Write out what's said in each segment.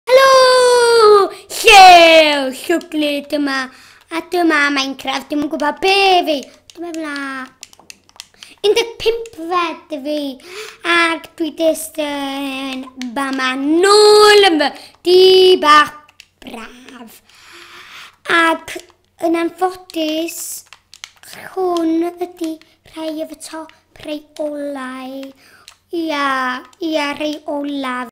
Helo! Llew! Llwglu dyma. A dyma Minecraft. Dim yn gwybod be fi. Dyma fla. 15 fed fi. Ac dwi dist yn bama nôl yn fy. Di bach braf. Ac yn anffodus, hwn ydy rhai o fy top rhai olau. Ia, ia, rhai olaf.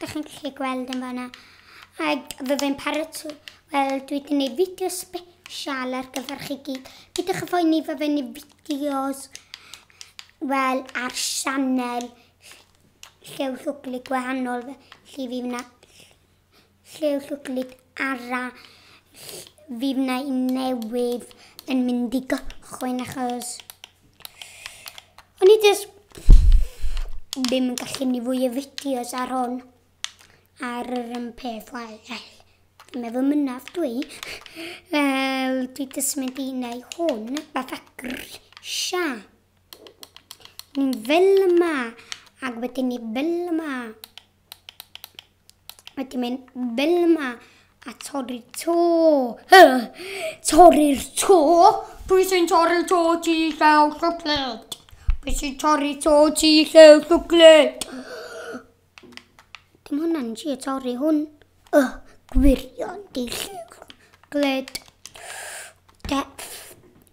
Dych chi'n gallu gweld yn fanna. Ac fe fe'n paratoi. Wel, dwi wedi gwneud fideo special ar gyfer chi gyd. Pidwch a phoeni fe fe'n gwneud fideos wel ar sianel llew llwglu gwahanol felly fi wna Lliw llwglyd arall fi wna i newydd yn mynd i gychwyn achos o'n i jyst ddim yn gallu ni fwy o fideos ar hon ar yr un peth wel fi'n meddwl mynnaf dwi fel dwi jyst mynd i neu hwn fatha grisia ni'n fel yma ac wedyn ni fel yma Mae di mynd fel yma a torri'r to. Torri'r to? Pwy sy'n torri'r to ti llew llwglyd? Pwy sy'n torri'r to ti llew llwglyd? Dim hwnna'n si a torri hwn. Y gwirion di llew llwglyd. Def.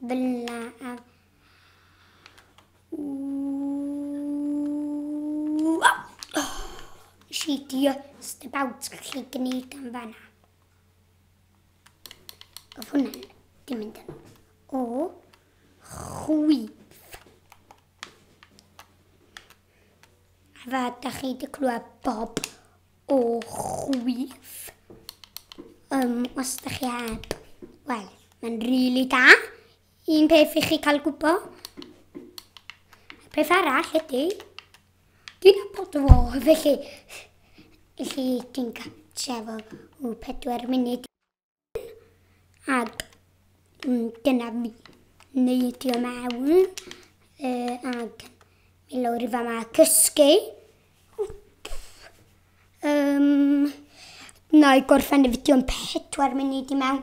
Bla a She just about gallu gwneud am fanna. Oedd hwnna'n dim mynd yn o chwith. A fe, da chi wedi clywed bob O chwith. Um, os da chi heb. Wel, mae'n rili really da. Un peth i chi cael gwybod. Peth arall ydy, dwi'n abod o fo, felly, felly dwi'n gael trefo o pedwar munud. Ag dyna fi. Neidio mewn. Uh, ag mi lawr i fama cysgu. Um, na i gorffen y fideo yn pedwar munud i mewn.